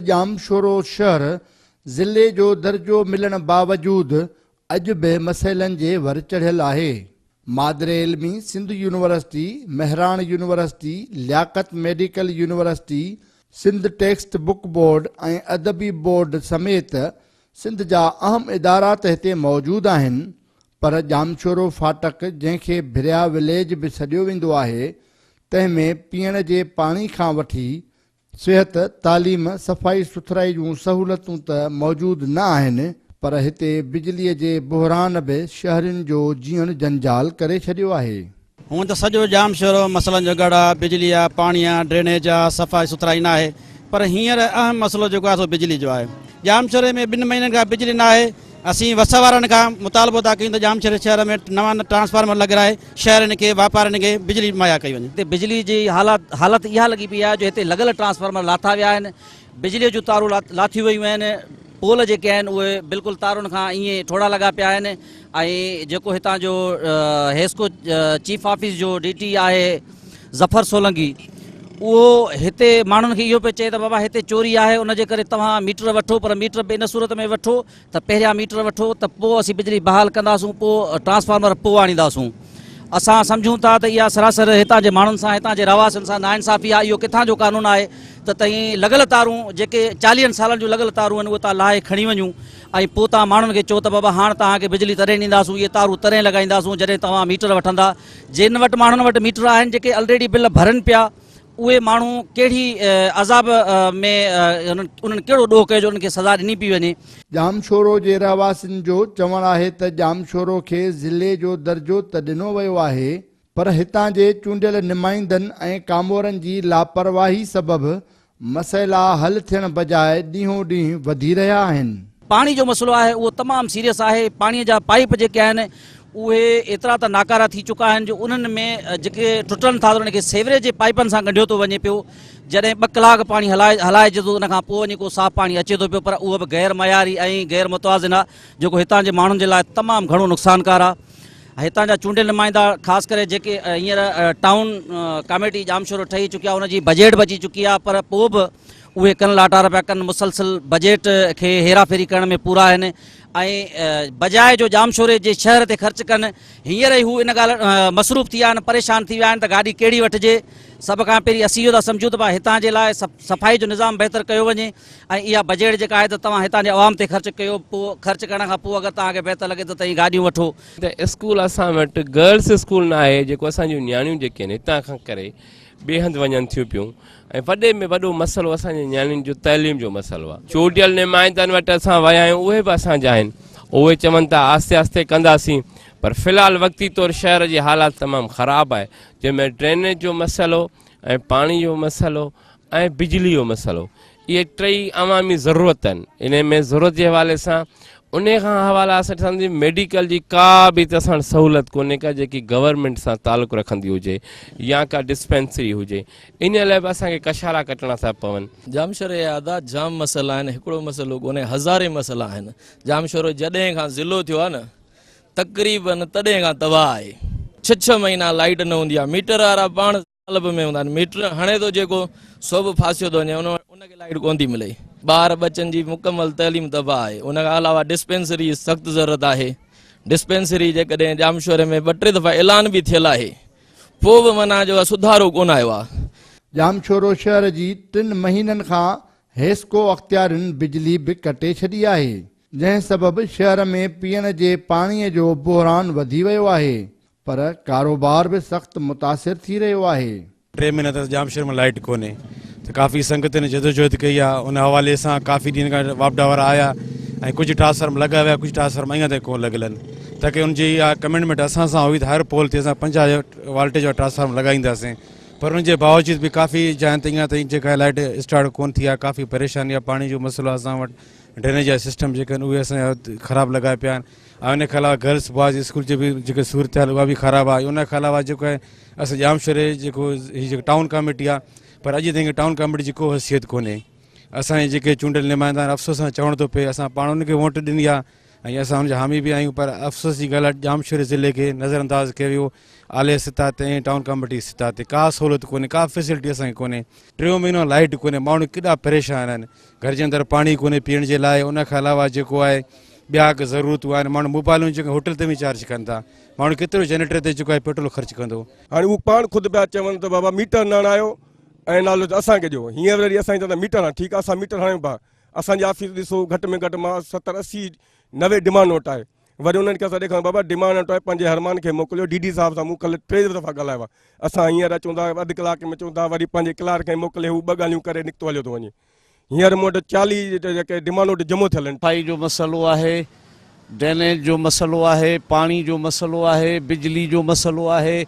ڄامشورو شهر ضلعي جو درجو ملڻ باوجود اڄ به مسئلن جي ور چڙهيل آهي، مادر علمي Sindh university, Mehran university, Liaquat medical university, Sindh text book board ۽ ادبي بورڊ سميت سنڌ جا اهم ادارا ته هتي موجود آهن پر ڄامشورو ڦاٽڪ جنهن کي ڀريا وليج به سڏيو ويندو آهي تنهن ۾ پيئڻ جي پاڻي کان وٺي صحت، تعليم، صفائي سٿرائي جون سهولتون ته موجود نه آهن پر هتي بجلي جي بحران به شهرين جو جيئڻ جنجال ڪري ڇڏيو آهي. هونئن ته سڄو ڄامشورو مسئلن جو ڳڙهه آهي، بجلي آهي، پاڻي آهي، ڊرينيج آهي، صفائي سٿرائي ناهي پر هينئر اهم مسئلو جيڪو آهي سو بجلي جو آهي. ڄامشوري ۾ ٻن مهينن کان بجلي ناهي، اسين وس وارن کان مطالبو ٿا ڪيون ته ڄامشوري شهر ۾ نوان ٽرانسفارمر لڳرائي شهرين کي واپارين کي بجلي مهيا ڪئي وڃي. هتي بجلي جي حالت اها لڳي پئي آهي جو هتي لڳل ٽرانسفارمر لاٿا ويا آهن، بجلي جون تارون لاٿيون ويون آهن، پول جيڪي آهن اهي بلڪل تارن کان ائين ٺوڙها لڳا پيا آهن ۽ جيڪو هتان جو حيسڪو چيف آفيس جو ڊي ٽي آهي، ظفر سولنگي، اهو هتي ماڻهن کي اهو پئي چئي ته بابا هتي چوري آهي ان جي ڪري توهان ميٽر وٺو پر ميٽر به ان صورت ۾ وٺو ته پهريان ميٽر وٺو ته پوء اسين بجلي بحال ڪنداسون پوء ٽرانسفارمر پوء آڻينداسون. اسان سمجهون ٿا ته اها سراسر هتان جي ماڻهن سان هتان جي رهواسين سان ناانصافي آهي اهو ڪٿان جو قانون آهي ته تهين لڳل تارون جيڪي چاليهن سالن جون لڳل تارون آهن اهي تان لاهي کڻي وڃو ۽ پوء تان ماڻهن کي چئو ته بابا هاڻ توهان کي بجلي تڏهن ڏينداسون اهي تارون تڏهن لڳائينداسون جڏهن توهان ميٽر وٺندا جن وٽ ماڻهن وٽ ميٽر آهن جيڪي الريڊي بل ڀرن پيا اهي ماڻهو ڪهڙي عذاب ۾ انهن ڪهڙو ڏوهه ڪيو جو انهن کي سزا ڏني پئي وڃي. ڄامشورو جي رهواسين جو چوڻ آهي ته ڄامشورو کي ضلعي جو درجو ته ڏنو ويو آهي پر هتان جي چونڊيل نمائندن ۽ ڪامورن جي لاپرواهي سبب مسئلا حل ٿيڻ بجاء ڏينهون ڏينهن وڌي رهيا آهن. پاڻي جو مسئلو آهي اهو تمام سيريس آهي، پاڻي جا پائيپ جيڪي آهن اهي ايترا ته ناڪارا ٿي چڪا آهن جو انهن ۾ جيڪي ٽٽن ٿا ته انهن کي سيوريج جي پائيپن سان ڳنڍيو ٿو وڃي پيو، جڏهن ٻه ڪلاڪ پاڻي هلائجي ٿو ته ان کان پوء وڃي ڪو صاف پاڻي اچي ٿو پيو پر اهو به غير معياري ۽ غير متوازن آهي جيڪو هتان جي ماڻهن جي لاء تمام گهڻو نقصانڪار آهي. هتان جا چونڊيل نمائندا خاص ڪري جيڪي هينئر ٽائون ڪاميٽي ڄامشورو ٺهي چڪي آهي ان جي بجيٽ به اچي چڪي آهي پر پوء به اهي ڪن لاٽار پيا ڪن مسلسل بجيٽ کي هيرا ڦيري ڪرڻ ۾ پورا آهن ۽ بجاء جو ڄامشوري جي شهر تي خرچ ڪن هينئر ئي هو ان ڳالهه مصروف ٿي ويا آهن پريشان ٿي ويا آهن ته گاڏي ڪهڙي وٺجي سڀ کان پهرين اسين اهو ٿا سمجهون ته هتان جي لاء صفائي جو نظام بهتر ڪيو وڃي ۽ اها بجيٽ جيڪا آهي ته توهان هتان جي عوام تي خرچ ڪيو پوء خرچ ڪرڻ کان پوء اگر توهان کي بهتر لڳي ته تئين گاڏيون وٺو. ته اسڪول اسان وٽ گرلس اسڪول نه آهي جيڪو اسان جون نياڻيون جيڪي آهن هتان کان ڪري ٻئي هنڌ وڃن ٿيون پيون ۽ وڏي ۾ وڏو مسئلو اسان جي نياڻين جو تعليم جو مسئلو آهي. چونڊيل نمائندن وٽ اسان ويا آهيون اهي به اسان جا آهن اهي چون ٿا آهستي آهستي ڪنداسين پر في الحال وقتي طور شهر جي حالات تمام خراب آهي جنهن ۾ ڊرينيج جو مسئلو ۽ پاڻي جو مسئلو ۽ بجلي جو مسئلو اهي ٽئي عوامي ضرورت آهن انهي ۾ ضرورت جي حوالي سان انهي کان حوالا اسان ڏسان ٿي ميڊيڪل جي ڪا به هتي اسان سهولت ڪونهي ڪا جيڪي گورنمينٽ سان تعلق رکندي هجي يا ڪا ڊسپينسري هجي انهي لاء به اسان کي ڪشارا ڪٽڻا ٿا پون. ڄامشوري جا ادا جام مسئلا آهن هڪڙو مسئلو ڪونهي هزارين مسئلا آهن ڄامشورو جڏهن کان ضلعو ٿيو آهي نه تقريبن تڏهن کان تباهه آهي ڇهه ڇهه مهينا لائيٽ نه هوندي آهي ميٽر وارا پاڻ قالب ۾ هوندا آهن. ميٽر هڻي ٿو جيڪو، سو به ڦاسيو ٿو وڃي، ان وٽ ان کي لائيٽ ڪونه ٿي ملي. ٻار ٻچن جي مڪمل تعليم تباهه آهي، ان کان علاوه ڊسپينسري جي سخت ضرورت آهي، ڊسپينسري جيڪڏهن ڄامشوري ۾ ٻه ٽي دفعا اعلان به ٿيل آهي، پوء به معنيٰ جو اها سڌارو ڪونه آيو آهي. ڄامشورو شهر جي ٽن مهينن کان حيسڪو اختيارين بجلي به ڪٽي ڇڏي آهي، جنهن سبب شهر ۾ پيئڻ جي پاڻي جو بحران وڌي ويو آهي، پر ڪاروبار به سخت متاثر ٿي رهيو آهي. ٽي مهينا ٿيا ڄام شهر ۾ لائيٽ ڪونهي ته ڪافي سنگتن جدوجهد ڪئي آ ان حوالي سان ڪافي ڏينهن کان واپڊا وارا آيا ۽ ڪجهه ٽرانسفارم لڳا ويا ڪجهه ٽرانسفارم اڃان تائين ڪون لڳل آهن تاڪي ان جي اها ڪمنٽمينٽ اسان سان هئي ته هر پول تي اسان پنجاهه والٽيج وارا ٽرانسفارم لڳائينداسين پر ان جي باوجود به ڪافي جاين تي اڃان تائين جيڪا لائيٽ اسٽارٽ ڪون ٿي آ ڪافي پريشاني آ پاڻي جو مسئلو آ اسان وٽ ڊرينيج جا سسٽم جيڪا آهن اهي اسان جا خراب لڳا پيا آهن ۽ ان کان علاوه گرلس بوائز اسڪول جي به جيڪا صورتحال اها به خراب آهي ان کان علاوه جيڪو آهي اسان ڄامشوري جي جيڪو هي جيڪو ٽائون ڪاميٽي آهي پر اڄ تائين ٽائون ڪاميٽي جي ڪو حيثيت ڪونهي اسان جي جيڪي چونڊيل نمائندا آهن افسوس سان چوڻ ٿو پئي اسان پاڻ ان کي ووٽ ڏني آهي ۽ اسان ان جا حامي به آهيون پر افسوس جي ڳالهه ڄامشوري ضلعي کي نظر انداز ڪيو ويو اعلي سطح تي ۽ ٽائون ڪاميٽي سطح تي ڪا سهولت ڪونهي ڪا فيسلٽي اسان کي ڪونهي ٽيون مهينو لائٽ ڪونهي ماڻهو ڪيڏا پريشان آهن گهر جي اندر پاڻي ڪونهي پيئڻ جي لاء ان کان علاوه جيڪو آهي ٻيا اڳ ضرورتون آهن ماڻهو موبائلون جيڪي هوٽل تي وڃي چارج ڪن ٿا ماڻهو ڪيترو جنريٽر تي جيڪو آهي پيٽرول خرچ ڪندو هاڻي هو پاڻ خود پيا چون ته بابا ميٽر نه هڻايو ۽ نالو ته اسان کي ڏيو هينئر وري اسان چون ٿا ميٽر هڻ ٺيڪ آهي اسان ميٽر هڻايون پيا اسان جي آفيس ڏسو گهٽ ۾ گهٽ مان ستر اسي نوي ڊمانڊ نوٽ آهي وري انهن کي اسان ڏيکاريون بابا ڊيمان ۽ ٽوئي پنهنجي حرمان کي موڪليو ڊي ڊي صاحب سان مون ڪلهه ٽي دفعا ڳالهايو آهي اسان هينئر اچون ٿا اڌ ڪلاڪ ۾ اچون ٿا وري پنهنجي ڪلارڪ کي موڪلي هو ٻه ڳالهيون ڪري نڪتو هليو ٿو وڃي هينئر مون وٽ چاليهه جيڪي ڊيمان وٽ جمع ٿيل آهن. صفائي جو مسئلو آهي، ڊرينيج جو مسئلو آهي، پاڻي جو مسئلو آهي، بجلي جو مسئلو آهي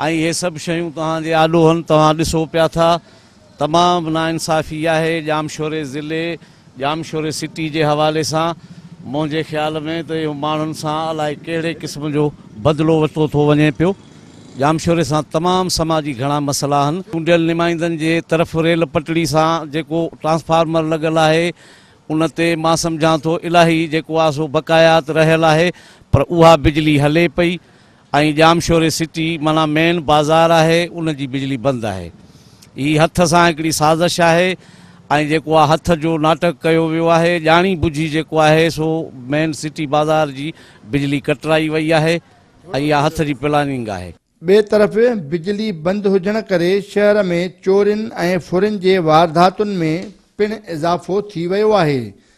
۽ اهي سڀ شيون توهان جي آڏو هن توهان ڏسو پيا ٿا. تمام ناانصافي آهي ڄامشوري ضلعي ڄامشوري سٽي جي حوالي سان منهنجي خيال ۾ ته اهو ماڻهن سان الائي ڪهڙي قسم جو بدلو ورتو ٿو وڃي پيو ڄامشوري سان تمام سماجي گهڻا مسئلا آهن چونڊيل نمائندن جي طرف ريل پٽڙي سان جيڪو ٽرانسفارمر لڳل آهي ان تي مان سمجهان ٿو الاهي جيڪو آهي سو بقايات رهيل آهي پر اها بجلي هلي پئي ۽ ڄامشوري سٽي معنيٰ مين بازار آهي ان جي بجلي بند آهي هي هٿ سان هڪڙي سازش آهي ۽ جيڪو آ هٿ جو ناٽڪ ڪيو ويو آهي ڄاڻي بجهي جيڪو آهي سو مين سٽي بازار جي بجلي ڪٽرائي وئي آهي ۽ اها هٿ جي پلاننگ آهي. ٻئي طرف بجلي بند هجڻ ڪري شهر ۾ چورين ۽ ڦرين جي وارداتن ۾ پڻ اضافو ٿي ويو آهي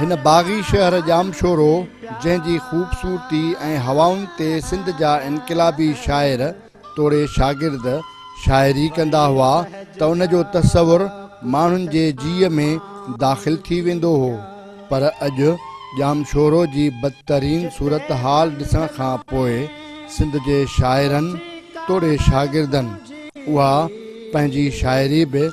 هن باغي شهر ڄامشورو، جنهن جي خوبصورتي ۽ هوائن تي سنڌ جا انقلابي شاعر توڙي شاگرد شاعري ڪندا هئا ته ان جو تصور ماڻهن جي جيء ۾ داخل ٿي ويندو هو پر اڄ ڄامشورو جي بدترين صورتحال ڏسڻ کان پوء سنڌ جي شاعرن توڙي شاگردن اها پنهنجي شاعري به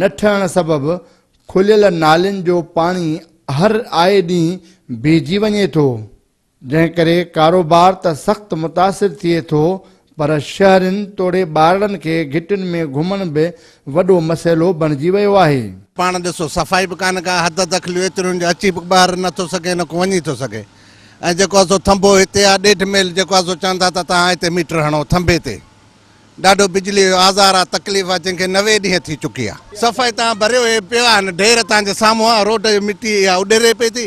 نه ٺهڻ سبب کليل نالين جو پاڻي هر آئي ڏينهن بيهجي وڃي ٿو، جنهن ڪري ڪاروبار ته سخت متاثر ٿئي ٿو پر شهرين توڙي ٻارڙن کي گهٽين ۾ گهمڻ به وڏو مسئلو بڻجي ويو آهي. پاڻ ڏسو صفائي به ڪانه ڪا حد دخليون ايتريون جو اچي به ٻاهر نه ٿو سگهي نه ڪو وڃي ٿو سگهي ۽ جيڪو آهي سو ٿنڀو هتي آهي ڏيڍ ميل جيڪو آهي سو چون ٿا ته تهان هتي ميٽر هڻو ٿنڀي تي ڏاڍو بجليء جو آزار آ، تڪليف آ، جنهن کي نوي ڏينهن ٿي چڪي آ. صفائي تان ڀريو هي پيو آ، هن ڍير تان جي سامهون آ، روڊ جي مٽي اها اڏري پئي ٿي.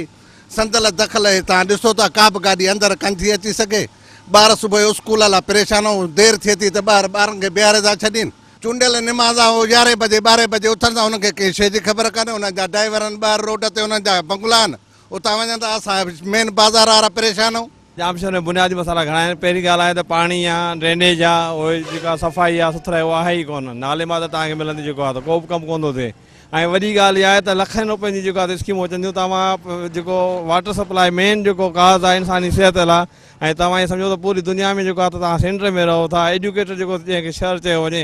سندل دخل هي تان ڏسو ٿا، ڪا به گاڏي اندر ڪن ٿي اچي سگهي. ٻار صبح جو اسڪول لا پريشان آ، دير ٿئي ٿي ته ٻار ٻارن کي بيهاري ٿا ڇڏين. چونڊيل نماز آ، هو يارهين بجي ٻارهين بجي اٿن ٿا، انهن کي ڪنهن شيء جي خبر ڪانهي، انهن جا ڊائيورن ٻاهر روڊ تي انهن جا بنگلا آهن، اتان وڃن ته اسان مين بازار وارا پريشان آهيون. ڄام شهر ۾ بنيادي مسئلا گهڻا آهن. پهرين ڳالهه آهي ته پاڻي آ، ڊرينيج آ، اهي جيڪا صفائي آ سٿرائي اها آهي ئي ڪونه. نالي مان ته توهان کي ملندي جيڪو آ ته ڪو به ڪم ڪونه ٿو ٿئي. ۽ وڏي ڳالهه اها آهي ته لکين روپين جي جيڪو آ ته اسڪيمون اچن ٿيون توهان جيڪو واٽر سپلائي مين جيڪو ڪاز آ انساني صحت لا۽ توهان ائين سمجهو ته پوري دنيا ۾ جيڪو آ ته توهان سينٽر ۾ رهو ٿا. ايڊيوڪيٽر جيڪو جنهن کي شهر چيو وڃي.